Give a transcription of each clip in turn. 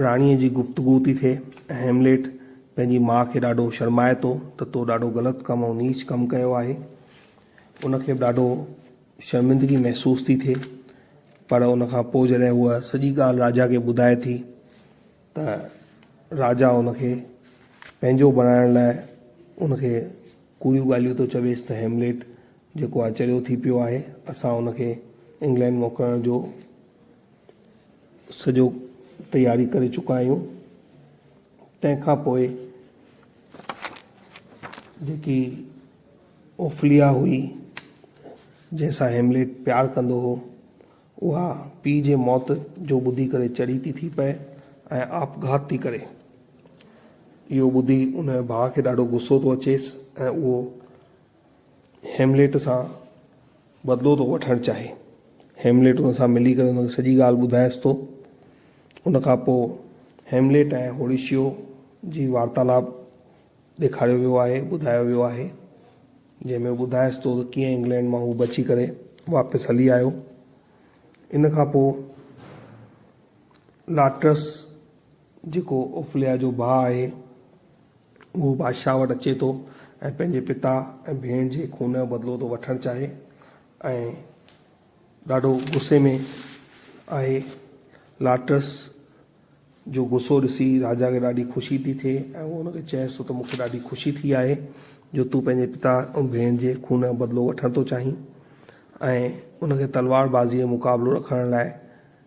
راڻيء جي گفتگو ٿي ٿئي ۽ هيمليٽ پنهنجي ماء کي ڏاڍو شرمائي ٿو ته تو ڏاڍو غلط ڪم ۽ نيچ ڪم ڪيو آهي. ان کي به ڏاڍو شرمندگي محسوس ٿي ٿئي پر ان کان پوء جڏهن هوء سڄي ڳالهه راجا کي ٻڌائي ٿي ته راجا ان کي پنهنجو بڻائڻ لاء ان کي ڪوڙيون ڳالهيون ٿو چويس ته هيمليٽ جيڪو آهي چريو ٿي پيو آهي اسان ان کي انگلينڊ موڪلڻ جو سڄو تياري ڪري چڪا آهيون تنهن کان پوء جيڪي اوفليا هئي جنهن سان هيمليٽ پيار ڪندو هو اها پيء جي موت جو ٻڌي ڪري چڙي ٿي ٿي پئي ۽ آپگهات ٿي ڪري اهو ٻڌي ان جي ڀاء کي ڏاڍو غصو ٿو اچيس ۽ اهو هيمليٽ سان بدلو ٿو وٺڻ چاهي. هيمليٽ ان سان ملي ڪري ان کي سڄي ڳالهه ٻڌائيس ٿو. ان کان پوء هيمليٽ ۽ هوريشيو جي وارتالاب ڏيکاريو ويو آهي، ٻڌايو ويو آهي، جنهن ۾ ٻڌائيس ٿو ته ڪيئن انگلينڊ مان هو بچي ڪري واپس هلي آيو. ان کان پوء لاٽرس، جيڪو اوفليا جو ڀاء آهي، اهو بادشاهه وٽ اچي ٿو ۽ پنهنجي پتا ۽ ڀيڻ جي خون جو بدلو ٿو وٺڻ چاهي ۽ ڏاڍو غصي ۾ آهي. لاٽرس جو غصو ڏسي راجا کي ڏاڍي خوشي ٿي ٿئي ۽ اهو هن کي چئيس ٿو ته مون کي ڏاڍي خوشي ٿي آهي جو تون پنهنجي پتا ۽ ڀيڻ جي خون جو بدلو وٺڻ ٿو چاهين ۽ ان کي تلوار بازيء جو مقابلو رکڻ لاء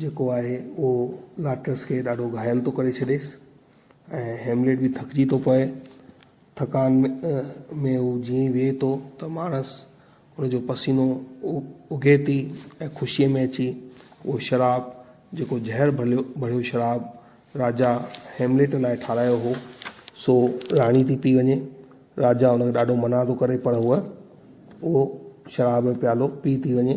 جيڪو آهي اهو لاٽرس کي ڏاڍو گهايل ٿو ڪري ڇڏيس ۽ هيمليٽ به ٿڪجي ٿو پوي. ٿڪان ۾ هو جيئن ئي ويهي ٿو ته ماڻس ان جو پسينو اگهي ٿي ۽ خوشيء ۾ اچي اهو شراب جيڪو زهر ڀريو شراب راجا هيمليٽ لاء ٺاهرايو هو سو راڻي ٿي پي وڃي. راجا ان کي ڏاڍو منع ٿو ڪري پر هوء اهو شراب جو پيالو پي ٿي وڃي.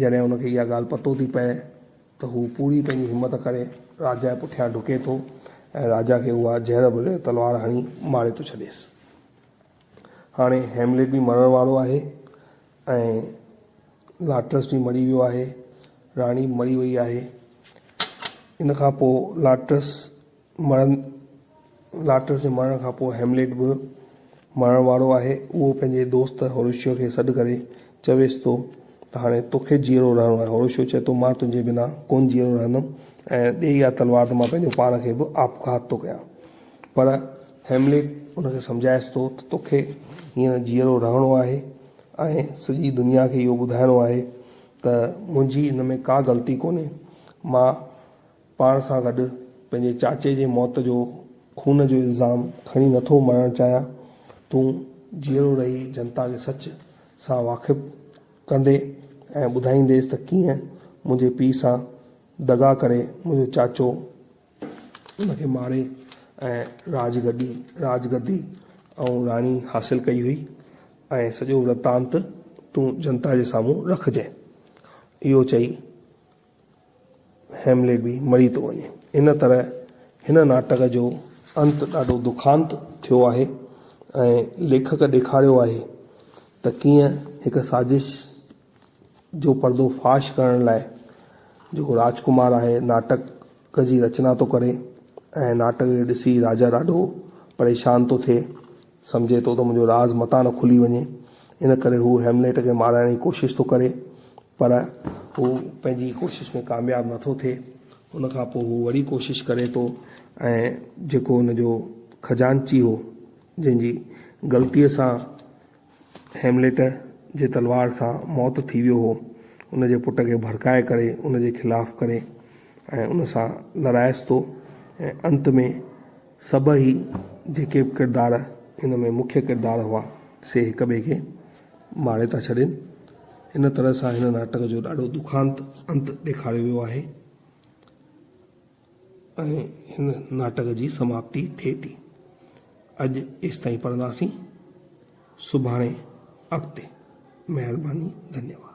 جڏهن هن کي اها ڳالهه پتو ٿي پئي ته هو پوري پنهنجي همت ڪري راجا جي پٺيان ڊڪي ٿو ۽ راجا کي اها زهر ڀريل تلوار هڻي ماري ٿو ڇڏيس. هاڻي هيمليٽ به مرڻ وارو آهي ۽ لاٽرس به مري ويو آهي. راڻي به مري وئي آهي. ان کان پوء لاٽرس مرڻ، لاٽرس جي مرڻ کان پوء هيملٽ به مرڻ وارو آهي. اهو پنهنجي دوست هوريشيو کي سڏ ڪري چويس ٿو ته هاڻي توکي جيئرو رهڻو آهي. هوريشيو چئي ٿو مان تنهنجي بنا ڪونه جيئرو رهندم ۽ ڏي اها تلوار ته مان پنهنجو پاڻ کي به آپگهات ٿو ڪيان. پر هيملٽ ان کي سمجهائيس ٿو ته توکي هينئر جيئرو رهڻو آهي ۽ سڄي دنيا کي اهو ٻڌائڻو آهي ته منهنجي ان ۾ ڪا غلطي ڪونهي. مان. پاڻ سان گڏ پنهنجي چاچي جي موت جو خون جو الزام کڻي نٿو مرڻ چاهيان. تون جيئرو رهي جنتا کي سچ سان واقف ڪندي ۽ ٻڌائينديس ته ڪيئن منهنجي پيء سان دغا ڪري منهنجو چاچو ان کي ماري ۽ راج گڏي راج گدي ۽ راڻي حاصل ڪئي هئي ۽ سڄو ورتانت تون جنتا جي سامهون رکجين. اهو چئي هيمليٽ به مري ٿو وڃي. ان طرح هن ناٽڪ جو انت ڏاڍو دکانت ٿيو آهي ۽ ليکڪ ڏيکاريو آهي ته ڪيئن هڪ سازش جو پردو فاش ڪرڻ لاء جيڪو راجڪمار آهي ناٽڪ جي رچنا ٿو ڪري ۽ ناٽڪ کي ڏسي راجا ڏاڍو پريشان ٿو ٿئي سمجهي ٿو ته منهنجو راز متان نه کلي وڃي ان ڪري هو هيمليٽ کي مارائڻ جي ڪوشش ٿو ڪري پر هو پنهنجي ڪوشش ۾ ڪامياب نه ٿو ٿئي. ان کان پوء هو وري ڪوشش ڪري ٿو ۽ جيڪو هن جو خزانچي هو، جنهن جي غلطيء سان هيملٽ جي تلوار سان موت ٿي ويو هو، ان جي پٽ کي ڀڙڪائي ڪري ان جي خلاف ڪري ۽ ان سان لڙائيس ٿو ۽ انت ۾ سڀئي جيڪي به ڪردار هن ۾ مکيه ڪردار هئا، سي هڪ ٻئي کي ماري ٿا ڇڏين. ان طرح سان هن ناٽڪ جو ڏاڍو دکانت انت ڏيکاريو ويو آهي ۽ هن ناٽڪ جي سماپتي ٿئي ٿي. اڄ ايستائين پڙهنداسين. سڀاڻي اڳتي. مهرباني. ڌنيواد.